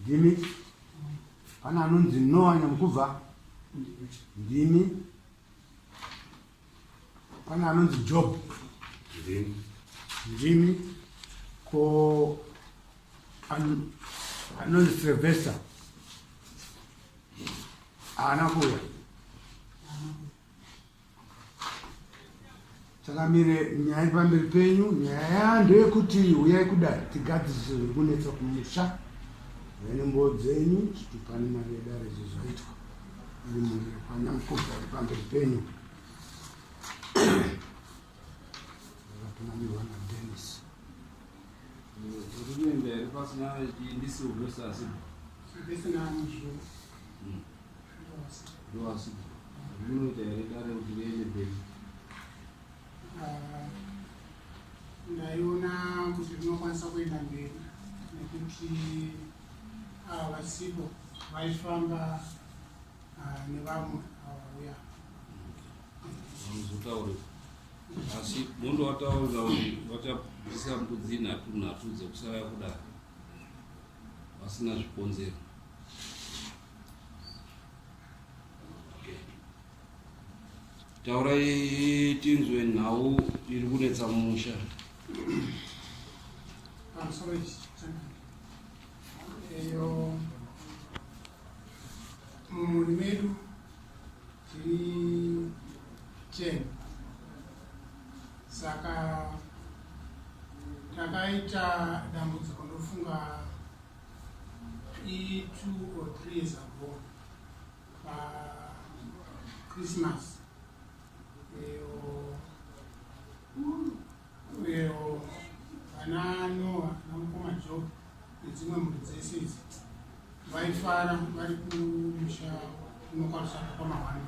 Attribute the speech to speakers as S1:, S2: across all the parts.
S1: ndimi pana anonzi noa nyamukubva ndimi pana anonzi job ndimi ko anonzi silvester haana kuuya takamire nyaya iri pamberi penyu nyaya yaa ndeyekuti uyai kudari tigadzirisa zviri kunetsa kumusha vene mboo dzenyu chitupani mari yedare izvo zvaitwa iri mhuri kwanyamukuva iri pamberi penyu akatungamirwa nadenis
S2: ndisiuvesaasi ndisina
S3: muzvuu
S2: ndaiona kuti ndinokwanisa kuenda mberi nekuti ava ah,
S3: vasipo vaifamba ah, nevamwe avauya
S2: amuzotaure asi mondo wataurira kuti vachabvisa mbudzi nhatu nhatu dzekusara kudaro vasina zvikonzero taurai tinzwe nhau iri kunetsa musha
S3: eyo mumuri medu tiri ten saka takaita dambudziko ndofunga Three, two or three years ago pachristmas uyo vana noa namukoma job nedzimwe mhuri dzese idzi vaifara vari kumusha unokwarisaka kwamahwani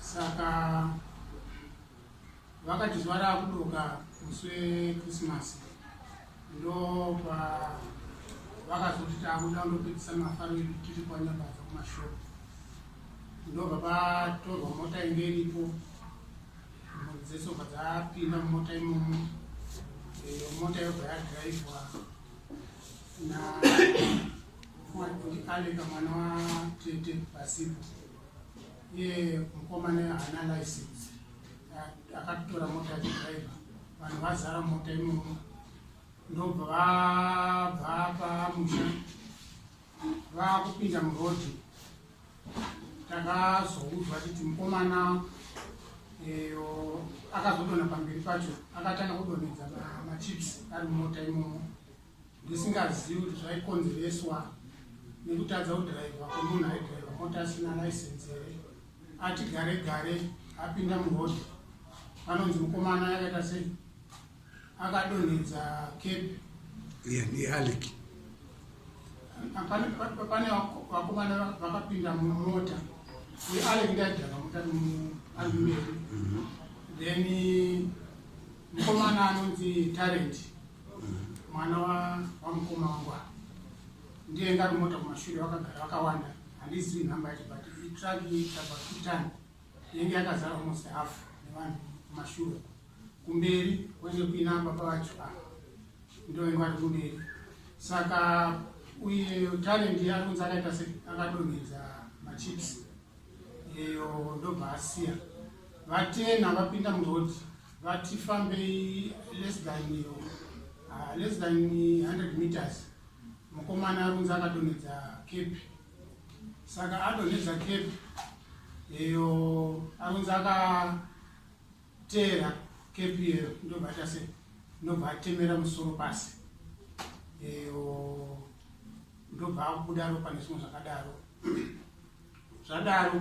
S3: saka Vakati zuva raakudoka musi wekrisimasi ndopa vakazoti taakuda kundopedzisa mafaro edu tiri kwanyabadza kumashopu ndobva patorwa mota inge iripo mhuri dzese ubva dzapinda mumota imomo iyo mota yobva yadhiraivhwa naandika mwana watete pasipo iye mukomana haana license akatotora mota yedriver vanhu vazara mota imomo ndobva vabva pamusha vakupinda murodi takazoudzwa titi mukomana eyo akazodona pamberi pacho akatanga kudonedza machips ari mumota imomo ndisingazivi kuti zvaikonzereswa nekutadza kudhiraivha kwemunhu aidhiraivha mota asina laisensi here ati gare gare apinda murodhi anonzi mukomana yakaita sei akadonhedza kepi ianialik pane vakomana vakapinda mumota uye alek ndaidhaka mota alumeri mhm. then Mukomana anonzi Talent mwana wamukoma wangu apa ndiye ngari mota kumashure vakagara vakawanda handizivi nhamba yacho but itraki tabva kutan yenge yakazara almost half nevanhu kumashure kumberi kwende kuina baba vacho apa ndovenge vari kumberi saka uye Talent akunzi akaita se akadonhedza machips iyo ndobva asiya vatena vapinda muroad vati fambei less than iyo uh, less than 100 meters mukomana arunzi akadonhedza kepi saka adonhedza kepi iyo arunzi aka teera kpl ndobva tase ndobva atemera musoro pasi eyo ndobva akubuda ropa nezvimwe zvakadaro zvadaro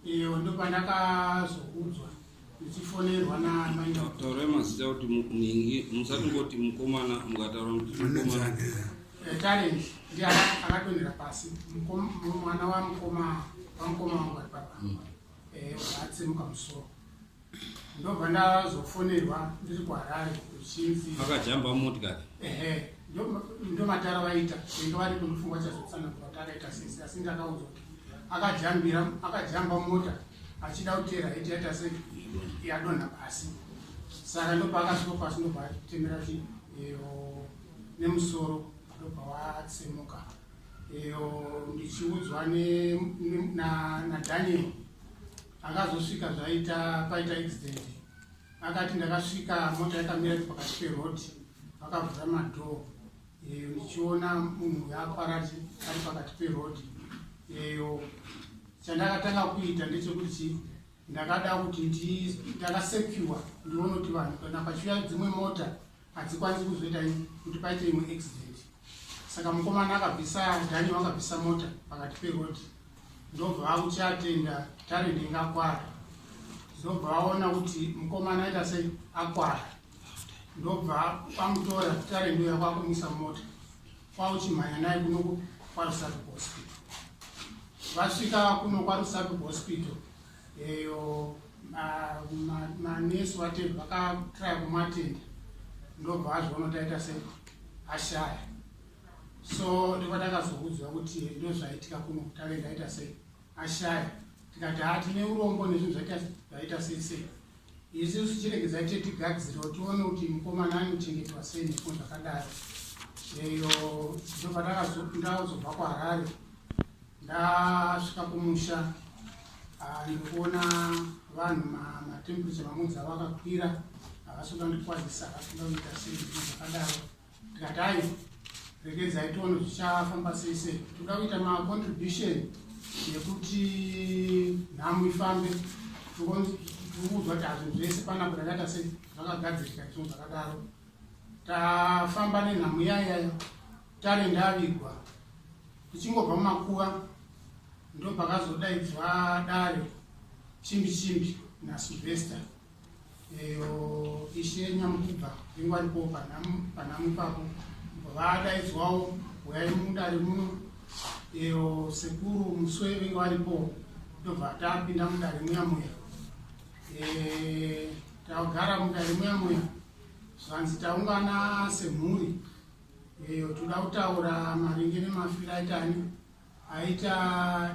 S3: eyo ndobva ndakazoudzwa ndichifonerwa namaitaurai mazita kuti
S2: muningi musati ngoti mukomana mukataura mutitalent
S3: eh, ndi akatonera pasi mwana wamukoma wamukoma wangu ari papa mm. Eh, akatsemuka musoro ndobva ndazofonerwa ndiri kuharare kuchinzi akajamba motikari
S2: ehe
S3: ndomatara vaita inge vari kundifunga chazotsana kuti atakaita sese asi ndakaudzwa kuti akajambira akajamba mota achida kutera iti yaita se yadonha pasi saka ndopa akasvika pasi ndobva atemera ti nemusoro ndobva watsemuka iyo ndichiudzwa nadaniel akazosvika zvaita paita accident akati ndakasvika mota yakamira pakati peroad vakavhura madhoo iyo ndichiona munhu yaaparati ari pakati peroad iyo chandakatanga kuita ndechekuti ndakada kuti ndakasecure ndione kuti vanhu kana pachiuya dzimwe mota hadzikwanisi kuzoita kuti paite imwe accident saka mukomana akabvisa dhani wakabvisa mota pakati perodi ndobva vakuti atenda talent inge akwara ndobva vaona kuti mukomana aita sei akwara ndobva kwamutora talent uya kwakumisa mota kwauchimhanya naye kuno kwarusapi hospital vasvika kuno kwarusapi hospital eyo manesu vatendi vakatraya kumatenda ndobva azviona taita se ashaya so ndobva takazoudzwa kuti ndozvaitika kuno kutave ndaita se ashaya tikati haa tine urombo nezvinhu zvaita sei sei Isusu chiregedzai chete tigadzirewo tione kuti mukomana anochengetwa sei nepo zvakadaro eyo ndobva ndakazobva kuharare ndasvika kumusha ah, ndikuona vanhu matemperature mamudzi avo akakwira havasi kuda ndikwazisa havasi kuda kuita sei zvakadaro Gatai, regedzai tione zvichafamba sei sei. Toda kuita ma contribution yekuti nhamu ifambe. Tikuudzwa kuti hazvinhu zvese panapa takaita sei zvakagadzirika izvo zvakadaro. Tafamba nenhamu yayayo tare ndavigwa tichingobva mumakuva ndopakazodaidzwa dare chimbi chimbi naSylvester Eyo ishe nyamukibva ingwani po panhamu ipapo vadaidzwawo huyai mudare muno eyo sekuru muswe venge varipo tobva tapinda mudare muya muya tagara mudare muya muya zvanzi taungana semhuri eyo toda kutaura maringe nemafiro aitani aita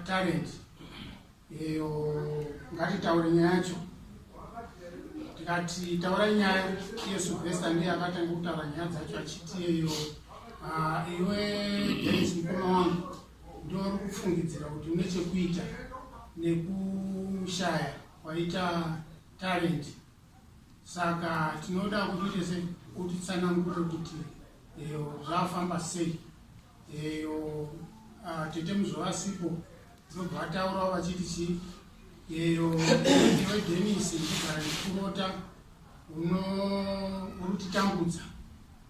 S3: talent iyo ngatitaure nyaya yacho tikati taura nyaya iyo sylvester ndiye akatanga kutaura nyaya dzacho achiti iyo ah, iwe denis mukoma wangu ndo uri kufungidzira kuti une chekuita nekushaya kwaita talent saka tinoda kuti tese kuti tsanangure kuti eyo zvafamba sei eyo ah, tete muzovasipo zobva vataurawo vachiti chii eyo iwe denis ndogara ndikurota uno uri kutitambudza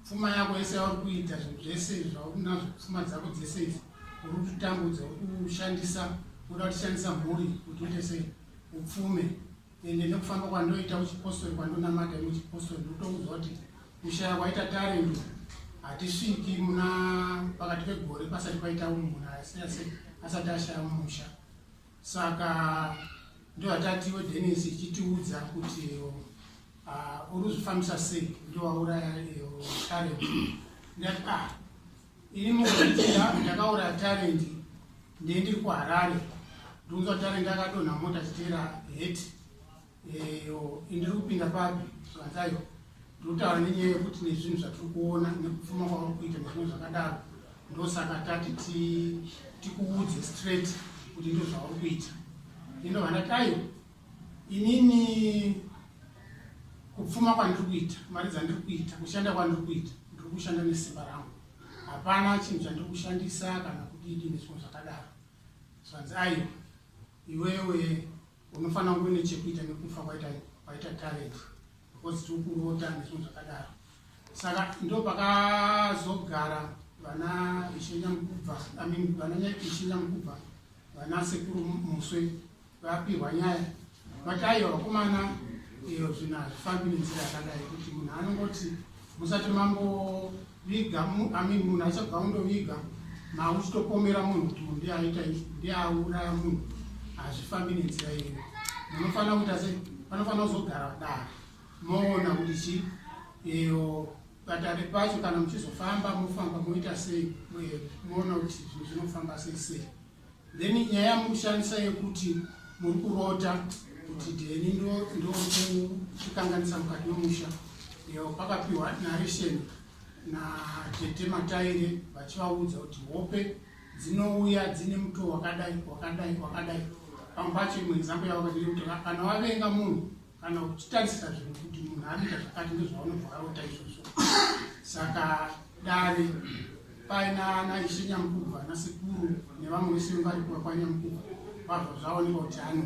S3: pfuma yako yese yauri kuita zvinhu zvese zvaunazvo pfuma dzako dzese idzi uri kutitambudza uri kushandisa uda kutishandisa mhuri kuti uite sei upfume ende nekufamba kwandoita uchipostori kwandonamata ine uchipostori ndotoudzwa kuti kushaya kwaita tarendo hatisviki muna pakati pegore pasati paita munhu asati ashaya mumusha saka ndohatatiwe denis ichitiudza kuti ah, uri kuzvifambisa sei ndowauraya tarendo ndati ah Ini mukuitira ndakaura talent ndiye ndiri kuharare ndikunzwa talent akadonha mota chitera het eyo eh, indiri kupinda papi zvanzayo ndikutaura nenyaya yekuti nezvinhu zvatiri kuona nekupfuma kwauri kuita nezvimwe zvakadaro ndosaka tati tikuudze straight kuti ndozvauri kuita ino vandati ayo Inini kupfuma kwandiri kuita, mari dzandiri kuita, kushanda kwandiri kuita, ndiri kushanda nesimba rangu. Hapana chinhu chandiri kushandisa kana kudidi nezvimwe zvakadaro. Zvanzi aiwa, iwewe unofanira kunge une chekuita nekufa kwaita kwaita talent because tiri kurota nezvimwe zvakadaro. Saka ndo pakazogara vana Ishe Nyamukubva, I mean vana Ishe Nyamukubva, vana Sekuru Muswe vapihwa nyaya vati aiwa vakomana iyo eh, zvinhu hazvifambi nenzira yakadai kuti munhu anongoti musati mamboviga amin munhu asabva undoviga mauchitopomera munhu kuti munhu ndiaita ndiauraya munhu hazvifambi nenzira iyo munofanira kuita se panofanira kuzogara dara moona kuti chi iyo eh, patare pacho kana muchizofamba mofamba moita sei moona kuti zvinhu zvinofamba sei sei then nyaya yamukushandisa yekuti muri kurota kuti deni ndokukanganisa mukati memusha iyo pakapiwa narration natete mataire vachivaudza kuti hope dzinouya dzine muto wakadai wakadai wakadai pamwe pacho imwe nzambo yavakadiri kuti kana wavenga munhu kana uchitarisira zvinhu kuti munhu anoita zvakati ndozvaunobva arota izvozvo saka dare paina ana ishe nyamukubva ana sekuru nevamwe vese vari kuva kwanyamukubva vabva zvaoneka kuti ano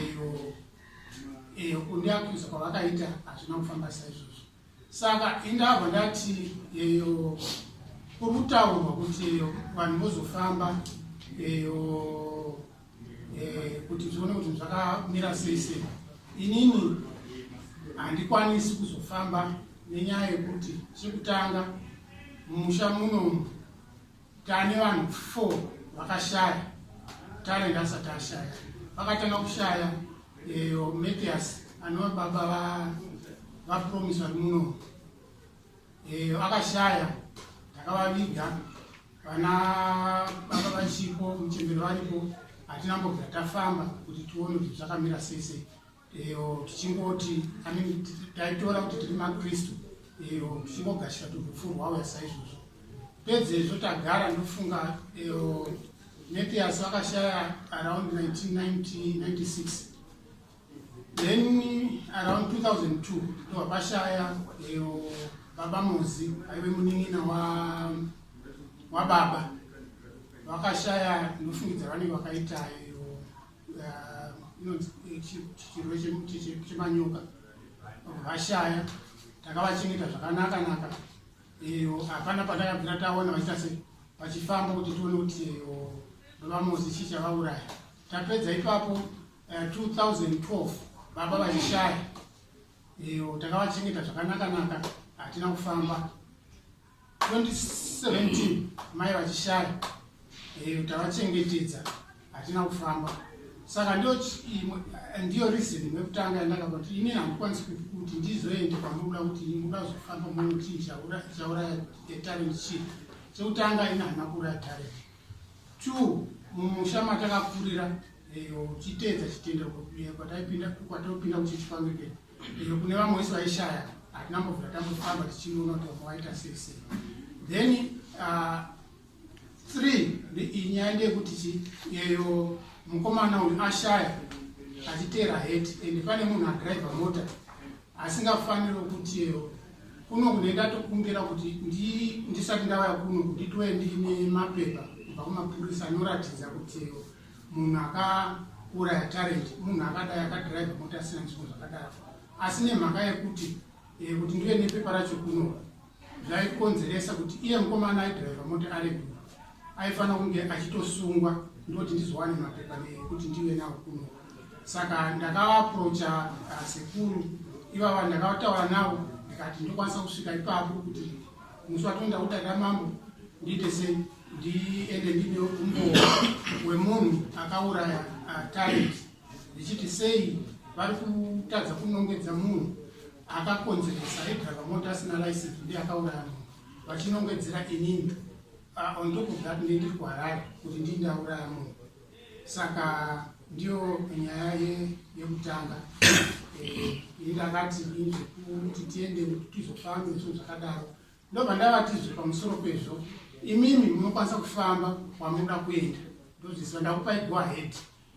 S3: eyo eyo kundiakuisa kwavakaita hazvina kufamba saizvozvo saka indabva ndati eyo kuri kutaurwa kuti eyo vanhu vozofamba eyo eh, kuti zvione kuti zvakamira sei sei inini handikwanisi kuzofamba nenyaya yekuti chekutanga mumusha munomu Tane vanhu four vakashaya tare ndasati ashaya vakatanga kushaya eyo matias anova baba vapromise vari muno eyo akashaya takavaviga vana baba vachipo muchemberi varipo hatina mbobva tafamba kuti tione kuti zvakamira sei sei iyo tichingoti amin taitora kuti tiri makristu iyo tichingogashira turufu rwauya saizvozvo pedzezvo tagara ndofunga iyo mepias vakashaya around 1996 then around 2002 ndobva pashaya iyo baba mozi aive munin'ina wababa wa wakashaya ndofungidza vanenge vakaita iyo chemanyoka vashaya takavachengeta zvakanaka naka iyo hapana patakabvira taona vachiita se vachifamba kuti tione kuti vamozi chii chavauraya tapedza ipapo 2012 eh, baba vachishaya iyo takavachengeta zvakanaka naka hatina kufamba 2017 mai vachishaya eh, kuti avachengetedza hatina kufamba saka ndiyo ndiyo reason yekutanga yandakaba kuti ini handikwanisi kuti ndizoende kwamuda kuti muda zofamba muti chauraya etalent chii chekutanga ini handina kuuraya talent two mumusha matakakurira eyo uchiteedza chitendero kwataipinda kwataipinda kuchichipangekeni iyo kune vamwe wese vaishaya hatina mbobvira tambofamba tichinoona kuti vamwe vaita sei sei then uh, three inyaya ndeyekuti chi yeyo mukomana uyu ashaya achiteera heti and pane munhu adriver mota asingafaniri kuti yeyo kuno kune ndatokumbira kuti ndisati ndavaya kuno kuti ndiwe ndine mapepa kubva kumapurisa anoratidza kuti yeyo munhu akauraya talent munhu akadai akadrive mota asina nzvimbo zvakadaro asi nemhaka yekuti eh, kuti ndive nepepa racho kunova zvaikonzeresa kuti iye mukomana aidrive mota ari kuno aifanira kunge achitosungwa ndoti ndizowane mapepa nekuti ndive nawo kuno saka ndakavaprocha uh, sekuru ivava ndakavataura navo ndikati ndokwanisa kusvika ipapo kuti musi watonda kutarira mambo ndiite sei ndiende ndinewo umboo wemunhu akauraya talent ndichiti sei vari kutadza kunongedza munhu akakonzeresa edriver mota asina license ndi akauraya munhu vachinongedzera inini ah, on top of that ndi ndiri kuharare kuti ndi ndauraya munhu saka ndiyo nyaya yekutanga eh, ini ndakati inzekuti tiende tizofambe zvinhu zvakadaro Ndobva ndavatizve pamusoro pezvo imimi munokwanisa kufamba kwamunoda kuenda ndozviziva ndakupai go ahead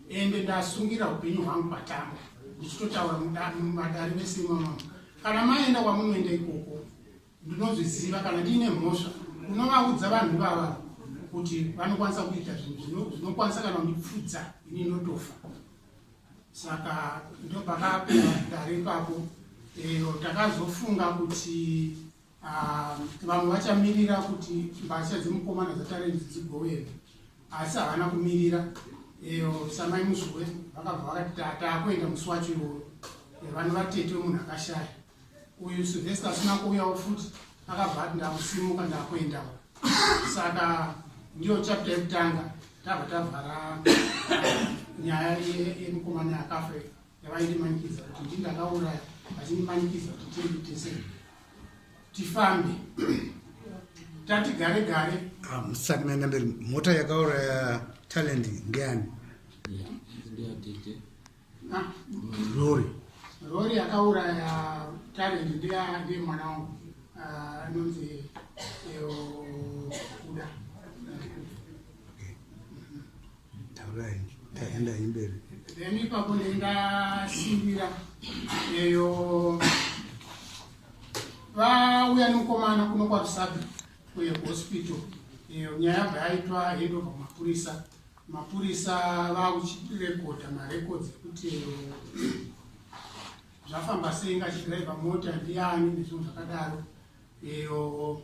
S3: ende ndasungira upenyu hwangu patamba ndichitotaura mumadari vese imamama kana maenda kwamunoenda ikoko ndinozviziva kana ndiine mhosva unovaudza vanhu ivava kuti vanokwanisa kuita zvinhu zvinokwanisa kana kundipfudza ini inotofa saka ndopakapo dare ipapo eyo eh, takazofunga kuti ah, vamwe vachamirira kuti mbasha dzemukomana dzatarenzi dzigoenda asi havana kumirira eyo eh, samai muzvuwe vakabva vakati taakuenda musi wacho iwoyo eh, vanhu vatete wemunhu akashaya uyu Sylvester asina kuuyawo futi akabva ati ndakusimuka ndakuendawo saka ndiyo chapta yekutanga tabva tavhara nyaya yemukomana yakafe yavaindimanikidza kuti ndi ndakauraya vachindimanikidza kuti tiende tese tifambe tati gare gare ah, musati maenda mberi
S1: mota yakauraya talent ndiyani yeah.
S3: rori rori yakauraya talent ndiye mwana wangu ah, anonzi kuda
S1: taurai taenda imberi then ipapo
S3: ndendasimbira eyo vauya nemukomana kuno kwarusabi kuye kuhospital eyo nyaya yabva yaitwa head of mapurisa Mapurisa vakuchirekodha marekodzi ekuti zvafamba sei ngachidhiraivha mota ndiani nezvinhu zvakadaro iyo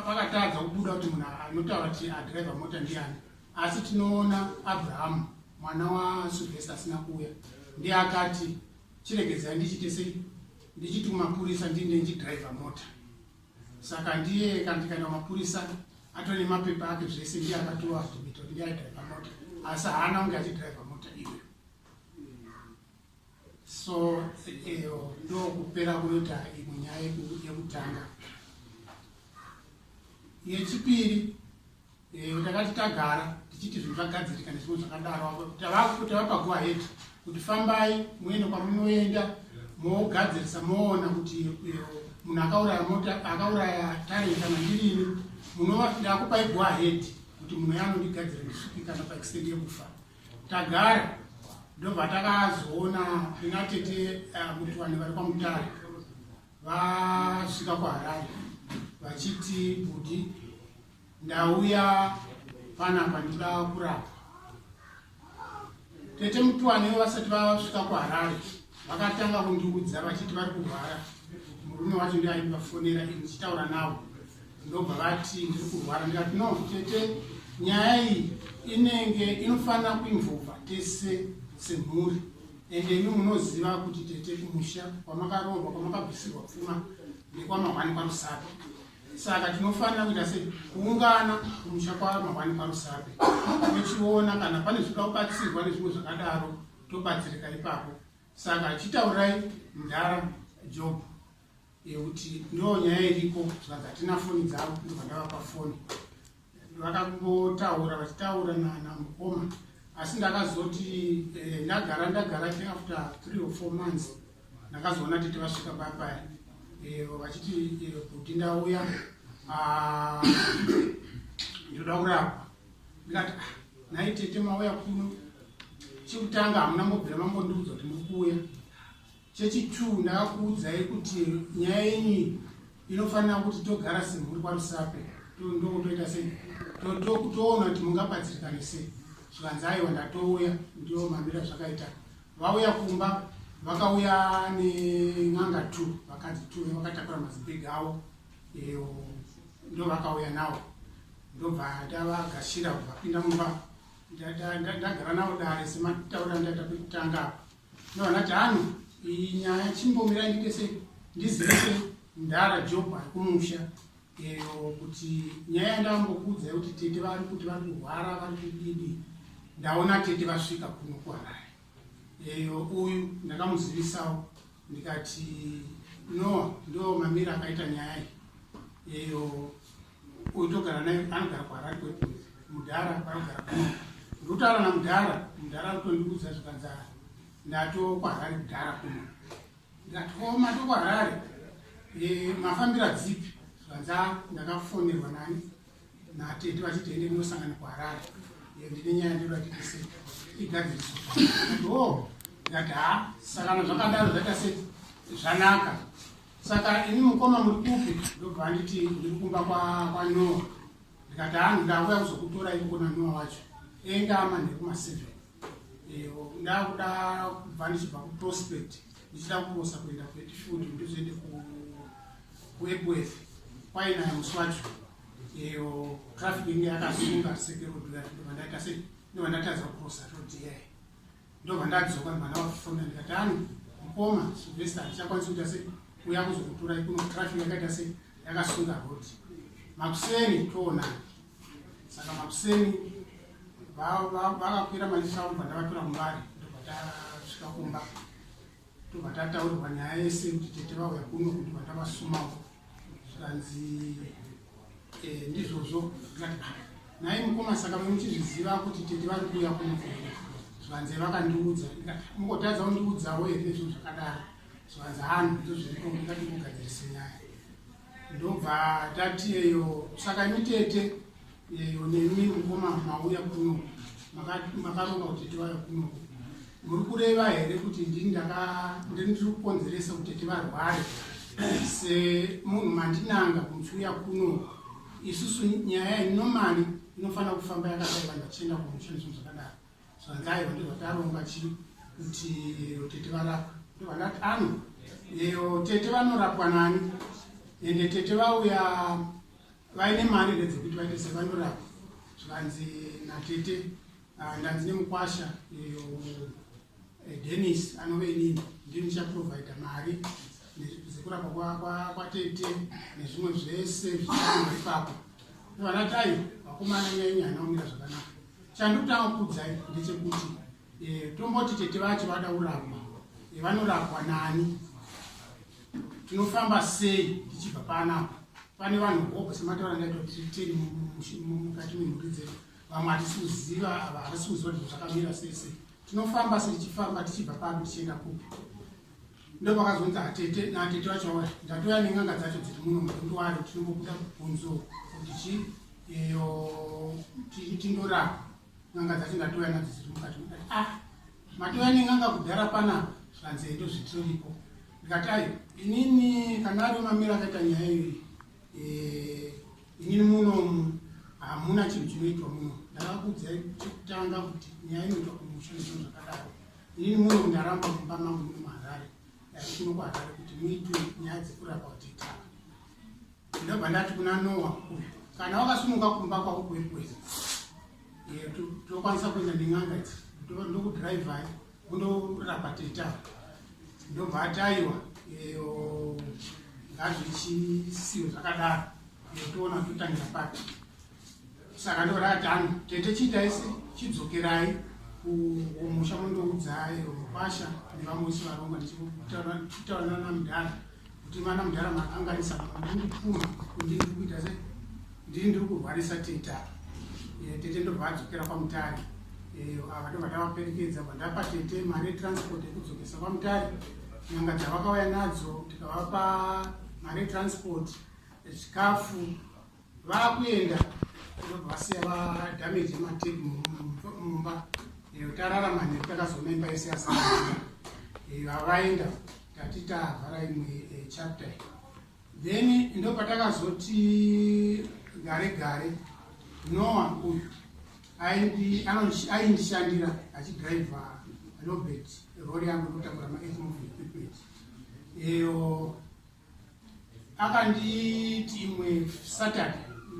S3: pakatadza kubuda kuti munhu anotaura kuti adhiraivha mota ndiani asi tinoona abrahamu mwana wasuvhesi asina kuuya ndiye akati chiregedzai ndichite sei ndichiti kumapurisa ndinde ndichidhiraivha mota saka ndiye kana tikaenda mapurisa atone mapepa ake zvese ndiye akatova zvimita kuti ndiye aidriva mota asi haana kunge achidriva mota iyoyo so eyo ndokupera kunoita imwe nyaya yekutanga yechipiri Eh, takati tagara tichiti zvinhu zvagadzirika nezvimwe zvakadaro tavapa go ahead kuti fambai muende kwamunoenda mogadzirisa moona kuti eh, munhu akauraya mota akauraya tarenta mandirini munovafira akupai go ahead kuti munhu yanondigadzira ndisuki kana paextend yekufa tagara ndobva takazoona inatete eh, muti vanhu vari kwamutare vasvika kwaharare vachiti budi Ndauya panapa ndikuda kurapwa. Tete Mutwani vasati vasvika kuHarare vakatanga kundiudza vachiti vari kurwara. Murume wacho ndiye aivafonera ini ndichitaura navo ndobva vati ndiri kurwara ndikati no tete nyaya iyi inenge inofanira kuimvova tese semhuri ende imi munoziva kuti tete kumusha kwamakaroorwa kwamakabvisirwa pfuma nekwamahwani kwamusaka Saka tinofanira kuita sei? Kuungana kumusha kwaMahwani kwaRusape, tochiona kana pane zvinoda kubatsirwa nezvimwe zvakadaro, tobatsirika ipapo. Saka chitaurai mudhara Job yekuti ndoo nyaya iriko zvikanzi hatina foni dzavo ndobva ndavapa foni vakambotaura vachitaura namukoma asi ndakazoti eh, ndagara ndagara ti after three or four months ndakazoona tete vasvika papaya eh, vachiti eh, kuti ndauya ah, ndoda kurapwa ndikati ah, nhai tete mauya kuno chekutanga hamuna mobvira mambondiudza kuti muri kuuya Chechi two ndakuudzai kuti nyaya yenyu inofanira kuti togara semhuri kwaMusape ndokutoita sei toona kuti mungabatsirikane sei zvikanzi aiwa ndatouya ndiwo mamira zvakaita vauya kumba vakauya nen'anga two vakadzi two vakatakura mazibhegi avo iyo ndovakauya nawo ndobva ndavagashira vapinda mumba ndagara nawo dare semataura ndaita kutanga apa No, not Anu. Inyaya chimbomira nditese ndizise ndara job arikumusha eyo kuti nyaya yandambokuudza yekuti tete vari kuti vari kurwara vari kudidi ndaona tete vasvika kuno kuharare eyo uyu ndakamuzivisawo ndikati noa ndo mamira akaita nyaya iyi eyo Uyu togara naye anogara kuharari kwedu mudhara vanogara kuno ndotaura namudhara mudhara kutondiudza zvikanzi ndato kwaharari mudhara kuno ndikati ko mato kwaharari eh, mafambira dzipi zvikanzi ndakafonerwa nani natete vachiti ende ndinosangana kuharari eh, ndine nyaya ndoda titise igadziriswa o oh, ndikati ha sakana zvakadaro zvaita se zvanaka saka ini mukoma muri kupi ndobva anditi ndiri kumba kwanoa ndikati hanhu ndauya kuzokutora iko kuna noa wacho enda manheru maseven ndakuda kubva ndichibva kuprospect ndichida kurosa kuenda kuetifud ndizoende kuepworth kwainaya musi wacho iyo traffic inge yakasunga sekeroduya ndovandaita sei ndovandatadza kurosa rodiyayo ndobva ndadzoka ndibva ndavakufonda ndikati ano mukoma silvesta handichakwanisi kuita sei uya kuzokuturai kuno traffic yakaita sei yakasunga road makuseni toonani saka makuseni vakakwira maliso avo bva ndavatora mubari ndobva tasvika kumba tobva tataurirwa nyaya yese kuti tete vauya kuno kuti bva tavasumawo zvikanzi Eh, ndizvozvo nhai mukoma saka muchizviziva kuti tete vari kuuya kunokuvira zvivanze vakandiudza mukotadza kundiudzawo here izvo zvakadaro zvivanze hanhu izvo zviriko ndingati kugadzirise nyaya ndobva tati eyo saka imi tete eyo nemi mukoma mauya kuno makaromba kuti tiwaya kuno Muri kureva here kuti ndini ndiri kukonzeresa kuti tete varware semunhu mandinanga kunziuya kuno isusu nyaya inomani inofanira kufamba yakadai vanhu vachienda kumushandiswa zvakadaro zvanzaiva ndozvataronga chi kuti tete varapwa ndovanati ano eyo tete vanorapwa nani ende tete vauya vaine mari here dzekuti vaite sevanorapwa zvikanzi natete Ah, ndanzi nemukwasha iyo eh, denis anove inini ndii ndichaprovidha mari dzekurapa kwatete nezvimwe zvese zvichaima ipapo vana tai vakomana nyenye hanaumira zvakanaka chandikutanga kukudzai ndechekuti eh, tomboti tete vacho vada kurapwa eh, vanorapwa nani tinofamba sei ndichibva panapa pane vanhu hobho semataura ndaitoti tiri mukati memhuri dzedu vamwe hatisi kuziva ava havasi kuziva kuti zvakamira sese tinofamba setichifamba tichibva papi tichienda kupi ndo pakazonzi atete natete vacho vauya ndatoya nen'anga dzacho dziri muno mutundu waro tinombobuda kubvunzo kuti chi iyo tindorapa n'anga dzacho ndatoya nadzo dziri mukati mudati ah matoya nen'anga kudhara pana zvanzi ndo zvitiriko ndikati ayo inini kana ari mamira akaita nyaya iyoyi inini muno hamuna chinhu chinoitwa muno ndakakuudzai chekutanga kuti nyaya inoitwa kumusha nezvinhu zvakadaro inini muno ndaramba mumba mangu muno muharare kuno kuharare kuti muitwe nyaya dzekurapa kuti itanga ndobva ndati kuna noa uyu kana wakasumuka kumba kwako kuekuweza tokwanisa kuenda nen'anga idzi ndokudhiraivhai kunorapa teta ndobva ataiwa iyo ngazvo ichisiyo zvakadaro yotoona totangira papi saka ndoratanga tete chiitaisi chidzokerai kumusha mondoudzai mukwasha nevamwe vese varongwa ndichitaura namudhara kuti mwana mudhara makanganisa ndinipuma ndini ndiri kuita se ndini ndiri kurwarisa teta eh, tete ndobva adzokera kwamutari eh, ava ndobva ndavaperekedza bva ndapa tete mari yetransport yekudzokesa kwamutari nyanga dzavakauya nadzo tikavapa mari yetransport chikafu vakuenda vasiya vadamage matip mumba tararama neku takazoma imba yese yasara vavaenda tati tavhara imwe eh, chapter then ndo patakazoti gare gare noa uyu aindishandira achidrive robert rori yangu ndotakura maethmov equipment eyo akanditi imwe saturday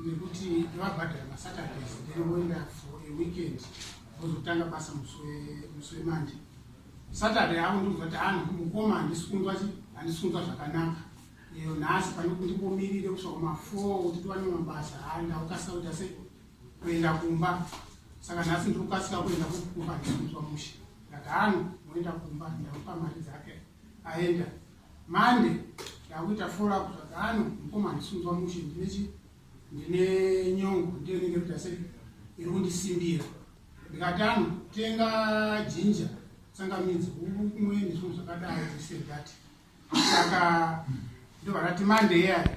S3: nekuti ndivabhadhara masaturdays then voenda for a weekend vozotanga basa musi wemanje saturday avo ndikuzvati hanhu ah, mukoma handisikundwa chi handisikundwa zvakanaka iyo nhasi panekuti ndimbomirire kusvaka mafour kuti tiwane mabasa haa ndaukasika kuita sei kuenda kumba saka nhasi ndiri kukasika kuenda kukumba ndisikundwa mushe ndati hanhu ah, moenda kumba ndaupa mari dzake aenda Monday ndakuita follow up zvakano mukoma handisunzwa mushe ndine chi ndine nyongo ndiyo inenge kuita sei iri kundisimbira ndikatano tenga jinja tsangamidzi kumwe nezvinhu zvakadaro zvisedati saka ndobva ndati mande yaya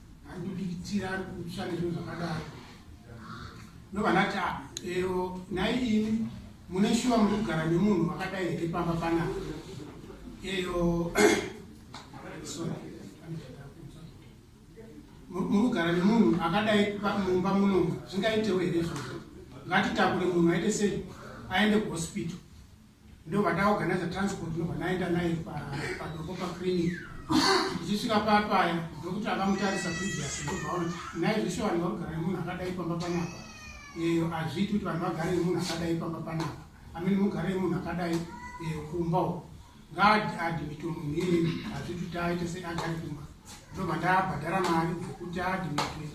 S3: Andibikitira ari kutsva nezvinhu zvakadaro. Ndovana ta ah, ero nhai ini mune shuwa muri kugara nemunhu wakadai here pamba panapa. Eyo muri kugara nemunhu akadai mumba muno zvingaitewo here izvozvo. Ngatitakure munhu aite sei aende kuhospital. ndobva ndaorganiza transport ndobva ndaenda naye padoko paclinic ndichisvika papaya ndokuti akamutarisa previous ndovaona naye zveshe vanhu varugara nemunhu akadai pamba panapa eyo hazviiti kuti vanhu vagare nemunhu akadai pamba panapa amene mugare nemunhu akadai eyo kumba u ngaadimito munhu iyeni hazviiti kuti aite sei agare kumba ndobva ndabhadhara mari dzekuti adimito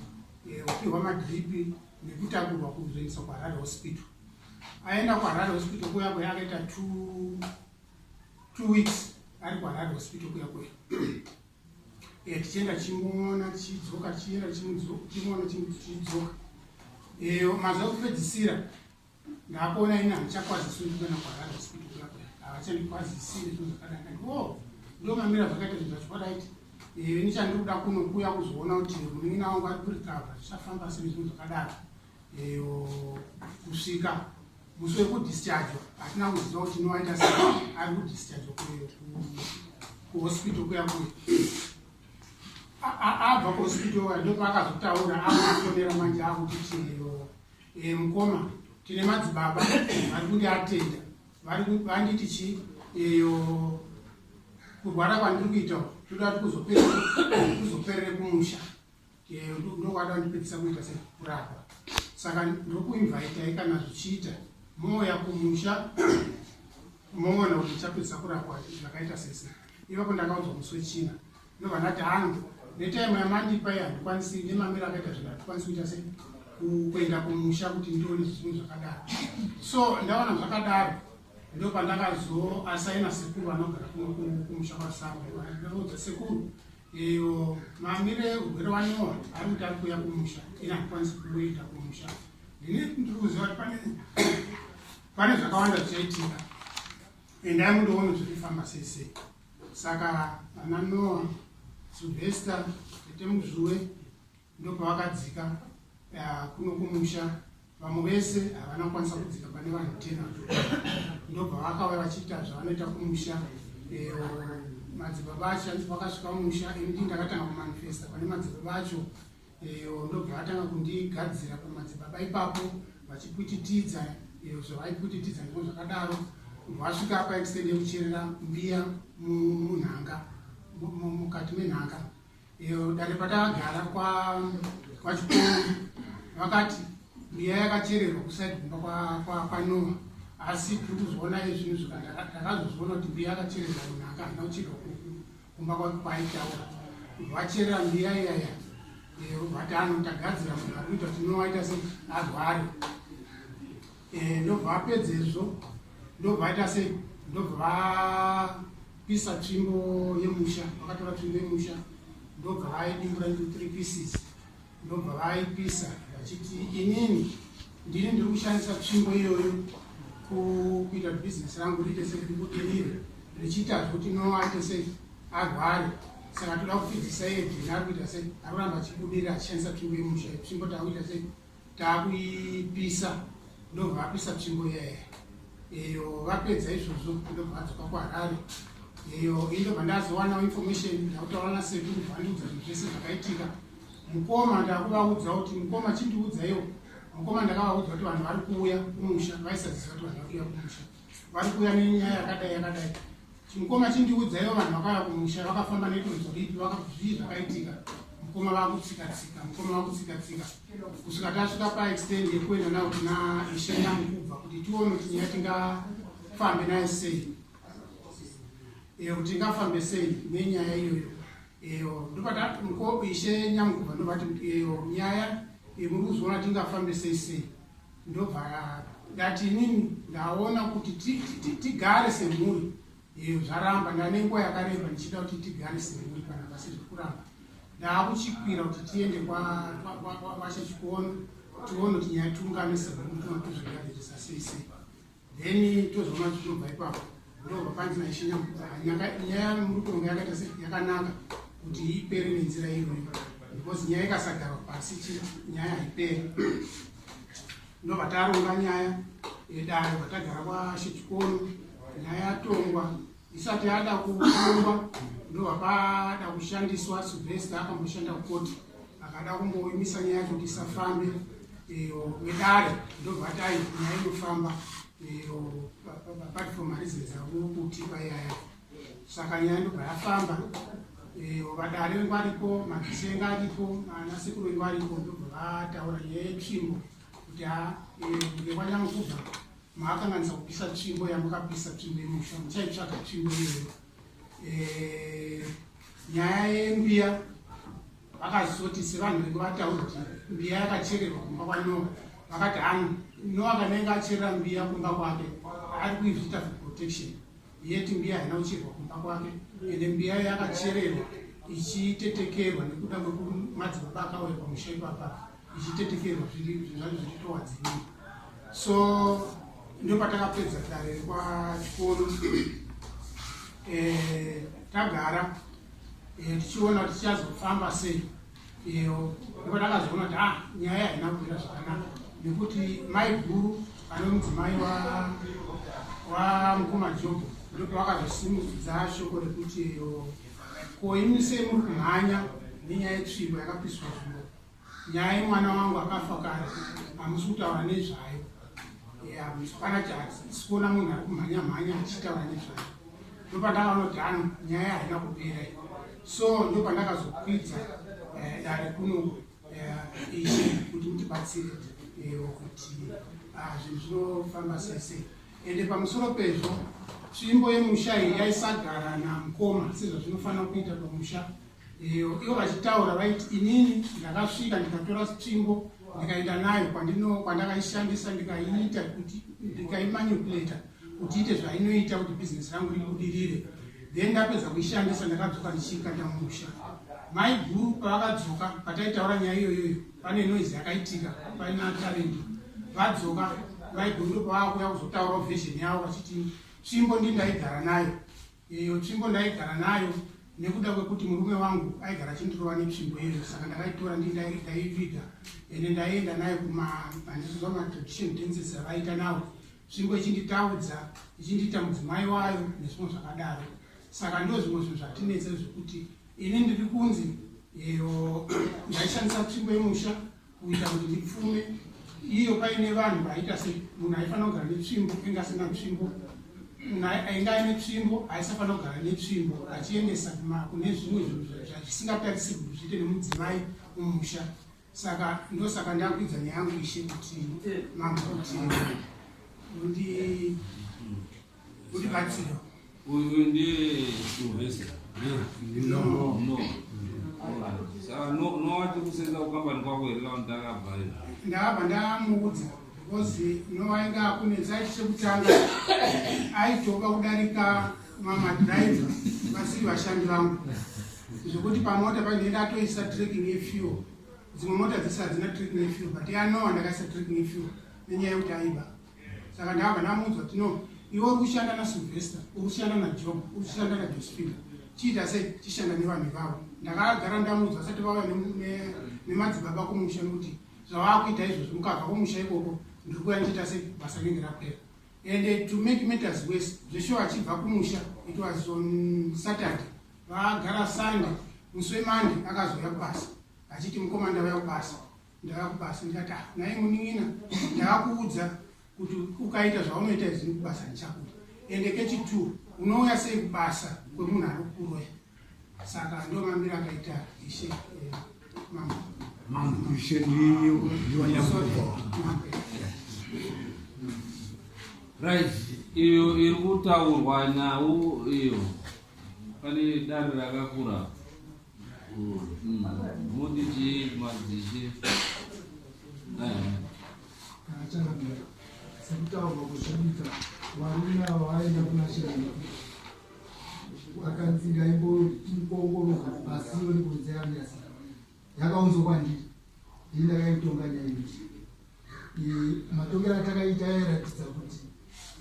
S3: eyo kupihwa madripi nekutakurwa kuzoendesa kuharare hospital aenda kuharare hospital kuya kuya akaita two weeks ari kuharare hospital kuya kuya eh, tichienda tichimuona tichidzoka tichienda tichimuona tichidzoka eh, mazuva ekupedzisira Ndakuona ini handichakwazisi ndikana kwarara hospital kuya kuya. Havachandikwazisi nezvinhu zvakadai ndati wo oh, ndo mamira zvakaita zvinhu zvacho what aiti eh, ini chandikuda kuno kuya kuzoona kuti munin'ina wangu ari kurikava zvichafamba sei zvinhu zvakadaro eh, kusvika musi wekudischargwa hatina kuziva kuti inowaita se ari kudischargwa kuhospital kuya kuya abva kuhospital ndopaakazotaura akufonera manje akuti chimiro e, mukoma tine madzibaba vari kuti atenda vanditi chii iyo kurwara kwandiri kuita toda ti kuzoperere kumusha ndokwada ndipedzisa kuita sekurapa saka ndokuinvaitai kana zvichiita moya kumusha moona kuti chapedzisa kurapwa zvakaita sese ivapo ndakaudzwa musi wechina ndovanati hangu netime yamandipa iyi handikwanisi nemamiro akaita zvinhu hatikwanisi kuita se kuenda kumusha kuti ndione zvinhu zvakadaro so ndaona zvakadaro ndo pandakazoasaina sekuru vanogara kumusha kwasaoudza sekuru iyo mamire urwere waniwa ari kuti ari kuya kumusha ini handikwanisi kuita kumusha ndine ndiri kuziva kuti pane pane zvakawanda zvichaitika endai mundoona zviri kufamba sei sei Saka vana Noah, Sylvester, Tete Muzvuwe ndopavakadzika uh, kuno kumusha vamwe vese havana kukwanisa kudzika pane vanhu tena ndobva vakauya vachiita zvavanoita kumusha eh, madzibaba acho anzi vakasvika musha ini ndakatanga kumanifesta pane madzibaba acho iyo ndobva atanga kundigadzira kumadzibaba ipapo vachipwititidza iyo zvavaipwititidza ndiko zvakadaro vasvika apa extend yekucherera mbiya munhanga mukati menhanga iyo dare patakagara kwachikoro vakati mbiya yakachererwa kusaidi kumba kwanoa asi tiri kuzviona izvinhu zvakandakazozviona kuti mbiya yakachererwa munhanga handina kuchirwa kumba kwangu kwaitaura vacherera mbiya iyaya vati eh, ano tagadzira munhu akuita kuti nowaita se arware eh, ndobva apedza izvo ndobva aita se ndobva vapisa tsvimbo yemusha vakatora tsvimbo yemusha ndobva vaidimbura into three pieces ndobva vaipisa vachiti inini ndini ndiri kushandisa tsvimbo iyoyo kuita bhizinesi rangu riite sei ndikutirire richiita zvekuti noate sei arware saka toda kuti dhisaidhini ari kuita sei ari kuramba achibudirira achishandisa tsvimbo yemusha tsvimbo taakuita sei taakuipisa ndobva vapisa tsvimbo yeye iyo vapedza izvozvo ndobva vadzoka kuharare iyo indobva ndazowanawo information ndakutaura nasekuru bvandiudza zvese zvakaitika mukoma ndakuvaudza kuti mukoma chindiudzaiwo mukoma ndakavaudza kuti vanhu vari kuuya kumusha vaisaziva kuti vanhu vari kuuya kumusha vari kuuya nenyaya yakadai yakadai mukoma chindiudzaiwo vanhu vakauya kumusha vakafamba netonzo ripi vakazvii zvakaitika mukoma vakutsika tsika mukoma vakutsika tsika kusvika tasvika paextend yekuenda navo kuna ishenda mukubva kuti tione kuti nyaya tingafambe naye sei kuti tingafambe sei nenyaya iyoyo Eyo ndovati muko ishe nyamukuva ndovati eyo nyaya yemuri kuzviona tingafambe sei sei ndobva ndati inini ndaona kuti tigare semhuri eyo zvaramba ndane nguva yakareba ndichida kuti tigare semhuri kana pasiri kuramba ndaakuchikwira kuti tiende kwavashe chikuona tione kuti nyaya tiungane semhuri tinotizvigaririsa sei sei then tozoma zvinobva ipapo ndobva panzi naishinya nyaya murutonga yakaita se yakanaka kuti ipere nenzira iyoyo because nyaya ikasagarwa pasi chi nyaya haipere ndobva taronga nyaya yedare vatagara kwashechikono nyaya yatongwa isati yada kuongwa ndobva pada kushandiswa sylvester akamboshanda kukoti akada kumboimisa nyaya yacho kuti isafambe vedare ndobva ati ai nyaya inofamba apart from reasons avo kuti payaya saka nyaya ndobva yafamba vadare vengu varipo mazisenga aripo anasekuru vengu aripo ndobva vataura nyaya yetsvimbo kuti ha ngekwanyamukubva maakanganisa kupisa tsvimbo yamukapisa tsvimbo yemusha muchaitsvaga tsvimbo iyoyo eh, nyaya yembiya vakazoti sevanhu venge vataura kuti mbiya yakachererwa kumba kwanoa vakati hangu noa kanenge acherera mbiya kumba kwake ari kuizviita for protection yeti mbiya haina kuchererwa kumba kwake ende mbiya yakachererwa ichitetekerwa nekuda kwekumadzibaba akauya pamusha ipapa ichitetekerwa zviri zvinzvani zvichitowa dzimwe so ndo patakapedza dare rekwachikoro eh, tagara eh, tichiona kuti tichazofamba sei iyo ndipo takazoona kuti ah nyaya haina kuita zvakanaka nekuti mai guru ane mudzimai wamukoma jobho ndipo vakazosimudza shoko rekuti iyo ko imi sei muri kumhanya nenyaya yetsvimbo yakapiswa zvimbo Nyaya yemwana wangu akafa kare hamusi kutaura nezvayo. Hapana chahatisi kuona munhu ari kumhanya mhanya achitaura nezvayo. Ndopandakaona kuti ano nyaya haina kupera iyo. So ndopandakazokwidza eh, dare kuno eh, ichi kuti mutibatsire eh, kuti ah, zvinhu zvinofamba sese. Ende pamusoro pezvo tsvimbo yemusha iyi yaisagara namukoma sezvazvinofanira kuita pamusha Ivo vachitaura vaiti inini ndakasvika ndikatora tsvimbo ndikaenda nayo kwandakaishandisa ndikaiita kuti ndikaimanipuleta kuti ite zvainoita kuti bhizinesi rangu ribudirire then ndapedza kuishandisa ndakadzoka ndichiikanda musha mai guru pavakadzoka pataitaura nyaya iyoyoyo pane noise yakaitika paina tarendi vadzoka mai guru ndopavaakuya kuzotaurawo vhizheni yavo vachiti tsvimbo ndindaigara nayo Iyo tsvimbo ndaigara nayo nekuda kwekuti murume wangu aigara achindirova netsvimbo iyoyo saka ndakaitora ndi ndaiviga ende ndaienda nayo kumahandisizo matradition dances avaiita nawo tsvimbo ichinditaudza ichindiita mudzimai wayo nezvimwe zvakadaro saka ndo zvimwe zvinhu zvatinetsa zvekuti ini ndiri kunzi iyo ndaishandisa tsvimbo yemusha kuita kuti tipfume iyo paine vanhu vaita se munhu aifanira kugara netsvimbo inge asina tsvimbo ainge aine tsvimbo aisafanira kugara netsvimbo achiendesa kune zvimwe zvinhu zvisingatarisiri kuti zviite nemudzimai mumusha saka ndosaka ndakuidza neyangu ishe kuti mambo kuti Uri batsiro.
S2: Uyu ndiye Sylvester. No. No. Saka no no wati kusenza kukambani kwako here kana ndakabva here? Ndabva ndamuudza
S3: because no wainge akunetsa achi chekutanga aitoka kudarika mama driver vasiri vashandi vangu zvekuti pamota painenge atoisa tracking yefuel dzimwe mota dzese hadzina tracking yefuel but yanowa ndakaisa tracking yefuel nenyaya yekuti aiba saka ndabva ndamuudzwa kuti no iwe uri kushanda nasylvester uri kushanda najob uri kushanda najosephina chiita sei chishanda nevanhu ivavo ndakagara ndamuudzwa asati vauya nemadzibaba kumusha nokuti zvavaakuita izvozvo mukabva kumusha ikoko ndiri kuya ndichiita sei basa rinenge rapera and eh, to make matters worse zvesho achibva kumusha it was on saturday vaagara sunday musi wemande akazouya kubasa achiti mukomanda vaya kubasa ndavakubasa ndikati ah, naye munin'ina ndavakuudza kuti ukaita zvaunoita izvi kubasa ndichakuda ende kechitwo unouya sei kubasa kwemunhu ari kuroya saka ndo mamiro akaita ishe eh,
S1: mambo
S2: right iyo iri kutaurwa nhau iyo pane dare rakakura
S4: sekutaurwa kuzviita varume ava vaenda kuna chiremba akanzi ngaimboongororwa pasi yoni kunze yamiasi yakaunzwa kwandiri ini ndakaitonga nyaya ichi matongero atakaita yairatidza kuti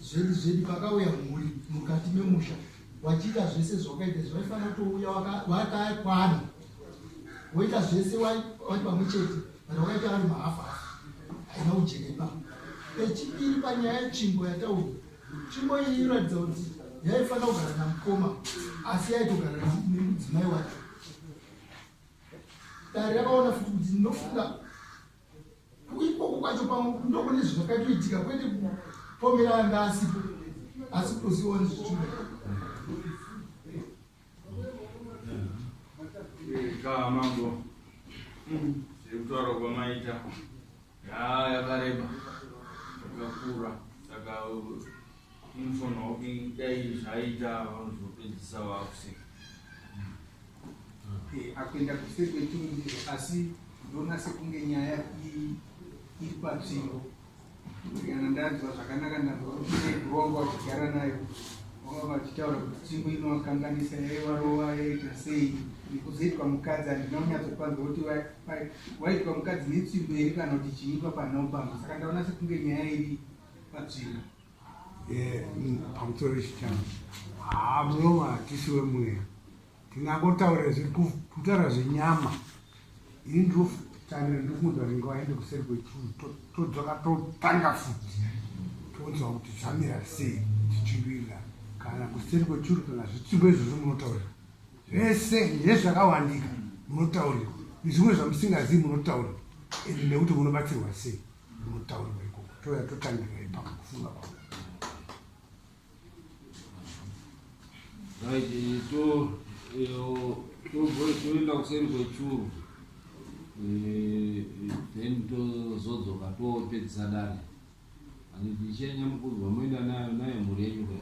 S4: zvedi zvedi pakauya mhuri mukati memusha wachiita zvese zvawakaita izvi waifanira kutouya wakakwana woita zvese wai pamwe chete kana wakaita vari mahafahafa haina ujenepa pechipiri panyaya yetsvimbo yataura tsvimbo iyi inoratidza kuti yaifanira kugara namukoma asi yaitogara nemudzimai wacho dare rakaona futi kuti ndinofunga ikoko kwacho pamwe ndokune zvakatoitika kwete kupomera anga asipo asi kutozivawo nezvichida
S5: kaa mambo zvekutaura kwamaita yaa yakareba yakakura saka Info hawking dai zvaita vanozopedzisa vakuseka
S4: akuenda kuseri kwechirundizo asi ndoona sekunge nyaya iri patsvimbo kana ndanzwa zvakanaka ndaakurongo vachigara nayo vanga vachitaura kuti tsvimbo inovakanganisa yaivarova yaita sei nekuzoitwa mukadzi handina kunyatsopanza kuti waitwa mukadzi netsvimbo iri kana kuti chiimba panopanza saka ndaona sekunge nyaya iri patsvimbo Eh,
S1: pamusoro chichama haa munowa hatisi wemweya tinangotaura zviri kutaura zvenyama ini ndiotanira ndikuunza ringe waende kuseri kwechuru todzoka totanga futi tonzwa kuti zvamira sei tichivirira kana kuseri kwechuru kana zvitsiko izvozvo munotaurira zvese nezvakawandika munotaurira nezvimwe zvamusingazivi munotaurira ende nekuti munobatsirwa sei
S2: mutown weko toya totangira ipaka kufunga kwangu right eh, to eh, toenda kuseri kwechuru eh, then tozodzoka topedzisa dare handichenya mukudzwa moenda nayo nayo mhuri yenyu kwai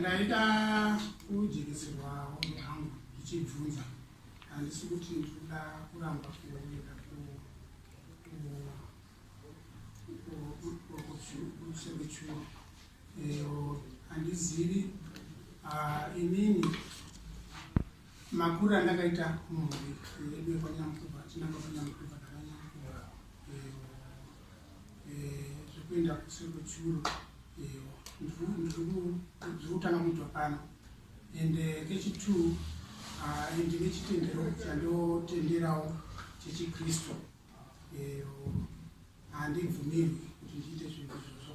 S3: ndaida kujekeserwawo hangu ndichibvunza handisi kuti ndikuda kuramba kuenda kusevechuo eyo handizivi inini Makuru andakaita mhuri yedu yekwanyamukova tinanga kwanyamukova takanyamukova zvekuenda kuseri kwechuru ndiri kutanga kuitwa pano and kechitwo ndine chitendero chandotenderawo chechikristu handibvumirwi kuti ndiite zvinhu izvozvo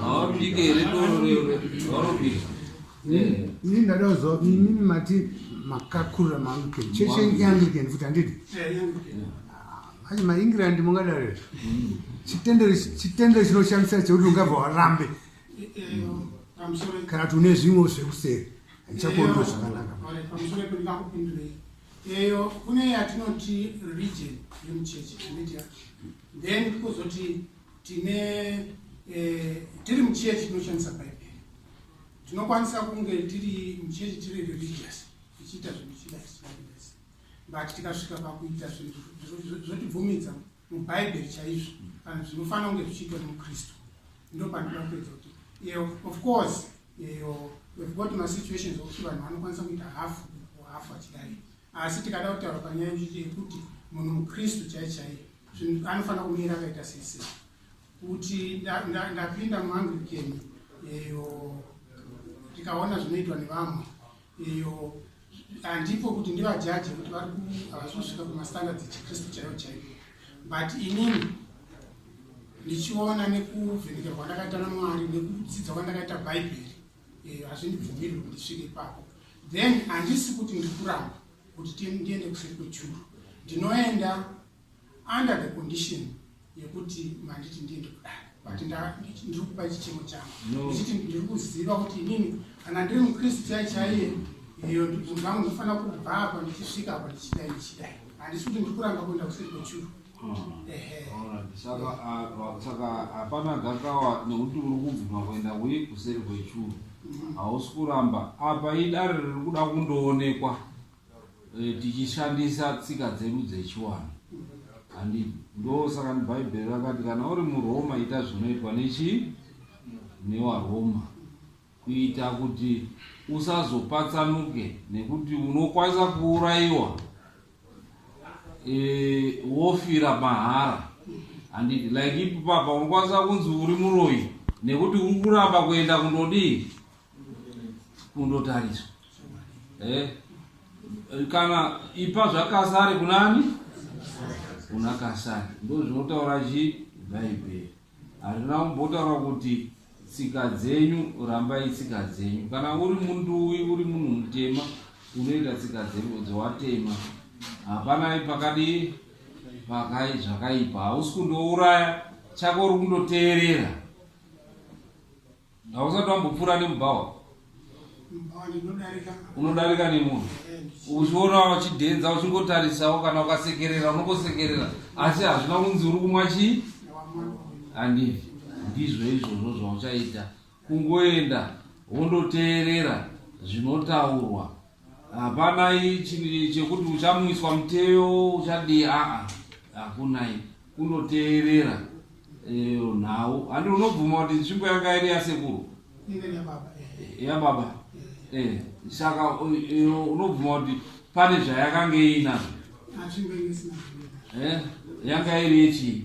S2: hawapike here dororororobika
S1: ini ndada kuziva kuti imimi mati makakurira maanglican cheshe ianglican futi handidi manje maengland mungadaro izvo chitendero chinoshamisa chekuti ungabva warambe kana kuti une zvimwe zvekuseri handichakuonero zvakanaka
S3: eyo kune yatinoti region yemucheche then kuzoti tine eh, tiri muchechi tinoshandisa bhaibheri tinokwanisa kunge tiri muchechi tiri religious tichiita zvinhu chida tichidaidasi but tikasvika pakuita zvinhu zvotibvumidza mubhaibheri chaizvo kana zvinofanira kunge zvichiitwa nemukristu ndo pandida kuedza kuti iyo of course iyo we've got masituations okuti vanhu vanokwanisa kuita hafu kuhafu achidai asi tikada kutaura panyaya yekuti munhu mukristu chai chaiye zvinhu anofanira kumira akaita sese kuti ndapinda muanglikeni eyo tikaona zvinoitwa nevamwe eyo handipo kuti ndivajaje kuti vari havasi kusvika kumastandard echikristu chaiyo chaiyo but inini ndichiona nekuvhenekerwa kwandakaita namwari nekudzidza kwandakaita bhaibheri eh, hazvindibvumiri kuti ndisvike ipapo then handisi kuti ndikuramba kuti ndiende kuseri kwechuru ndinoenda under the condition yekuti manditi ndiende kudai but ndiri kupa chichemo changu ndichiti ndiri kuziva kuti inini kana ndiri mukristu chai chaiye iyo ndibvunhu vangu ndinofanira kubva apa ndichisvika apa ndichidai ndichidai handisi kuti ndiri kuramba kuenda kuseri kwechuru saka
S2: saka hapana gakawa nekuti uri kubvuma kuenda wii kuseri kwechuru hausi kuramba apa idare riri kuda kundoonekwa e, tichishandisa tsika dzedu dzechiwano handi ndo saka bhaibheri rakati kana uri muroma ita zvinoitwa nechi newaroma Kuita kuti usazopatsanuke nekuti unokwanisa kuurayiwa e, wofira mahara handiti like ipo papa unokwanisa kunzi uri muroyi nekuti uri kuramba kuenda kundodii kundotariswa eh? kana ipa zvakasari kunani kuna kasari ndozvinotaura chii bhaibheri Handina kumbotaura kuti tsika dzenyu rambai tsika dzenyu. Kana uri munduwi uri munhu mutema unoita tsika dzenyu dzowatema. Hapana pakadii pakai zvakaipa hausi kundouraya chako uri kundoteerera. Hausati wambopfuura nemubhawa? Mubhawa ndinodarika. Unodarika nemunhu. Uchiona wachidhenza uchingotarisawo kana ukasekerera unongosekerera asi hazvina kunzi uri kumwa chii? Handivi. Ndizvo izvozvo zvauchaita. Kungoenda wondoteerera zvinotaurwa hapana ichi chekuti uchamuiswa muteo uchadii aa hakunai kunoteerera eh, nhau handi unobvuma kuti nzvimbo yanga iri yasekuru yababa eh, eh, saka unobvuma kuti pane zvayakanga iinazvo yanga iri yechii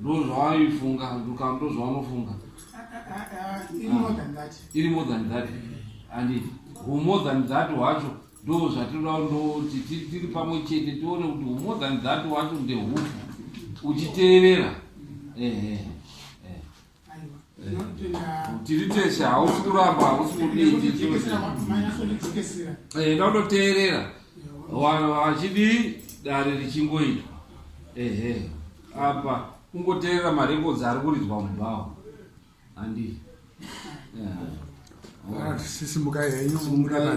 S2: ndozvaaifunga ndukam ndozvaanofunga
S3: iri more than that
S2: and humore than that wacho ndo zvatinoda ndoti tiri pamwe chete tione kuti humore than that wacho ndehufu uchiteerera ehe tiri teshe hausi kuramba hausi kudiienda unoteerera vachidii dare richingoitwa ehe apa kungoteerera marekodzi ari kuridzwa mubhawa handii
S1: sisimukai henyu muenda